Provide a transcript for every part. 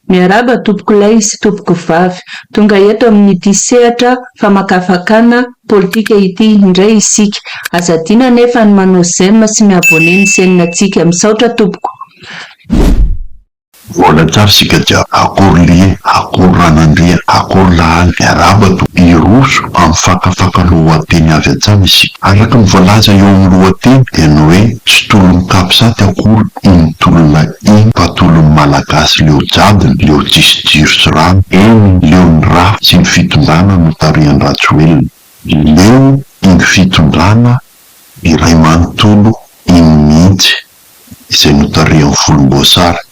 Miarahaba tompoko lahy sy tompoko vavy. Tonga eto amin'ity sehatra famakafakana politika ity indray isika. Aza adino anefa ny manao j'aime sy mi-abonner ny chaîne antsika. Misaotra tompoko. Mivôla tsara isika jiaby. Akory lie, akory ranandria, akory lahaly miarahaba to. Hiroso amin'ny fakafaka lohateny avy hatrany isika. Araka ny voalaza eo amin'ny lohateny dia ny hoe tsy tolon'ny capsat akory iny tolona iny fa tolon'ny malagasy leo jadona, leo tsisy jiro sy rano, eny leo ny rafy sy ny fitondrana notarihan-dRajoelina, leo iny fitondrana iray manontolo iny mihitsy. izay notarihan'ny volomboasary.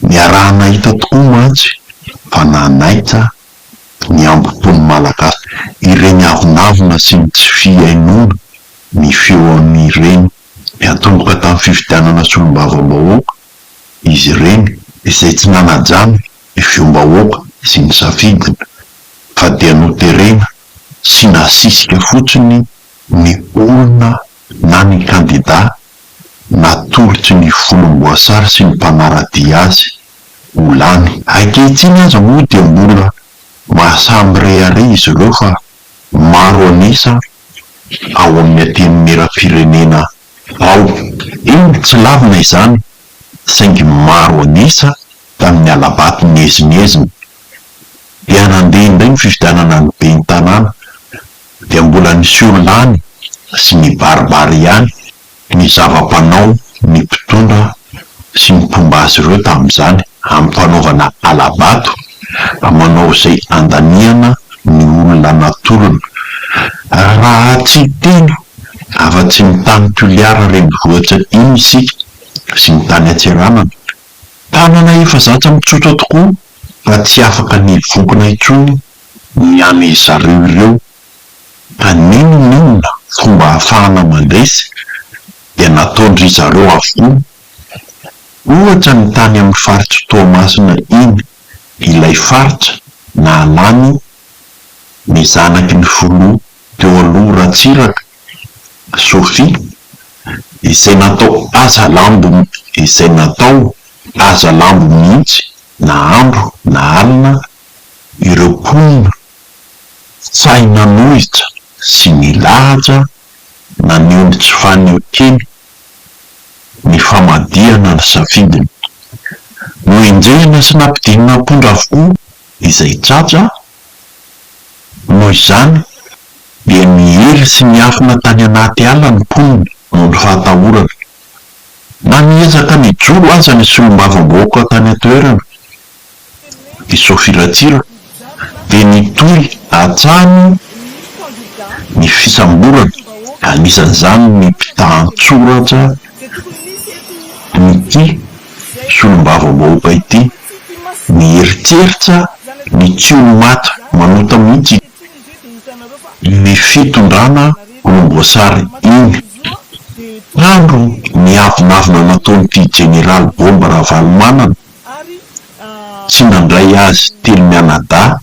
Niaraha-nahita tokoa mantsy fa nanaitra ny hambom-pon'ny Malagasy ireny avonavona sy ny tsy fihainoana ny feon'ireny mpiantomboka tamin'ny fifidianana solombavambahoaka izy ireny izay tsy nanaja ny feom-bahoaka sy ny safidiny fa dia noterena sy nasisika fotsiny ny olona na ny kandidà natoloky ny volomboasary sy ny mpanara-dia azy ho lany. Ankehitriny aza moa dia mbola maha-samirehareha izy ireo fa maro an'isa ao amin'ny Antenimierampirenena ao. Eny, tsy lavina izany saingy maro an'isa tamin'ny hala-bato niezinezina dia nandeha indray ny fifidianana ny Ben'ny tanàna. dia mbola niseho lany sy nibaribary ihany ny zava-panao ny mpitondra sy ny mpomba azy ireo tamin'izany amin'ny fanaovana hala-bato manao izay andaniana ny olona natolony raha tsy hiteny afa-tsy ny tany Toliara renivohitra iny isika sy ny tany Antsiranana tanana efa zatra mitsotra tokoa fa tsy afaka ny vokona intsony ny any zareo ireo fa n'inon'inona fomba ahafahana mandresy dia nataon-dry zareo avokoa. Ohatra ny tany amin'ny faritr'i Toamasina iny, ilay faritra nahalany ny zanaky ny filoha teo aloha Ratsiraka, Sophie, izay natao aza lambo izay natao aza lambo mihitsy na andro na alina Ireo mponina sahy nanohitra sy nilaza naneho ny tsy fanehoan-kena ny famadihana ny safidiny. Noenjehina sy nampidinina am-pondra avokoa izay tratra, noho izany dia niely sy niafina tany anaty ala ny mponina noho ny fahatahorana. Na niezaka nijoro aza ny solombavambahoaka tany an-toerana. i Sophie Ratsiraka dia nitohy hatrany ny fisamborana anisan'izany ny mpitahan-tsoratra an'ity solombavambahoaka ity nieritreritra ny tsy ho maty manota mihitsy iny fitondrana volomboasary iny tandro ny avonavona nataon'ity Jeneraly Bomba Ravalomanana Tsy nandray azy telo mianadahy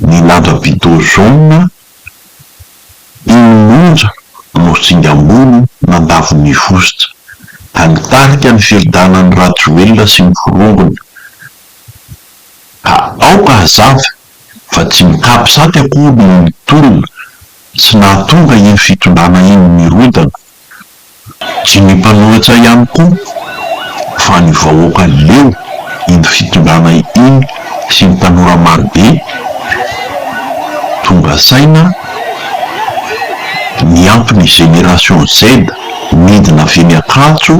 ny lanja-bido jaune iny monja no singa ambony nandavo ny vositra ka nitarika ny fifidanan'i Rajoelina sy ny forongony ka aoka hazava fa tsy ny capsat akory no nitolona sy nahatonga iny fitondrana iny nirodana Dimy mpanoratra ihany koa fa ny vahoaka leo iny fitondrana iny sy ny tanora marobe tonga saina niampy ny génération Z nidina avy eny Ankatso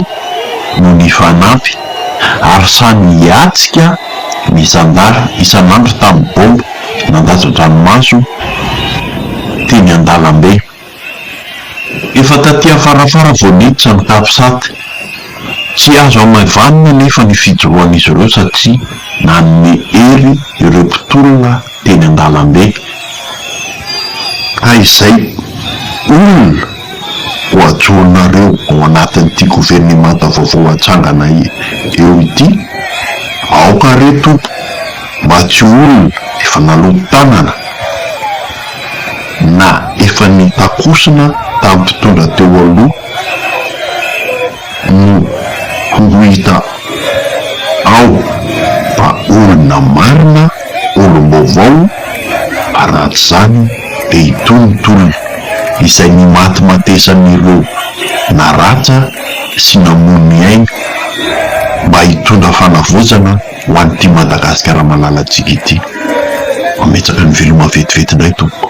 no nifanampy ary samy hiatsika ny zandary isan'andro tamin'ny bomba nandatsa-dranomaso teny an-dalambe. Efa taty afarafara vao niditra ny Capsat. Tsy azo hamaivanina anefa ny fijoroan'izy ireo satria nanome hery ireo mpitolona teny an-dalambe. Ka izay olona ho ajoronareo ao anatin'ity governemanta vaovao hatsangana eo ity, aoka re tompoko mba tsy olona efa naloto-tanana. na efa nitakosona tamin'ny mpitondra teo aloha no ho hita ao fa olona marina, olom-baovao ary raha tsy izany dia itony ny tolona izay nimatimatesan'ireo naratsa sy namono ny ainy mba hitondra fanavaozana. ho an'ity Madagasikara malalantsika ity. Ametsaky ny veloma vetivety indray tompoko.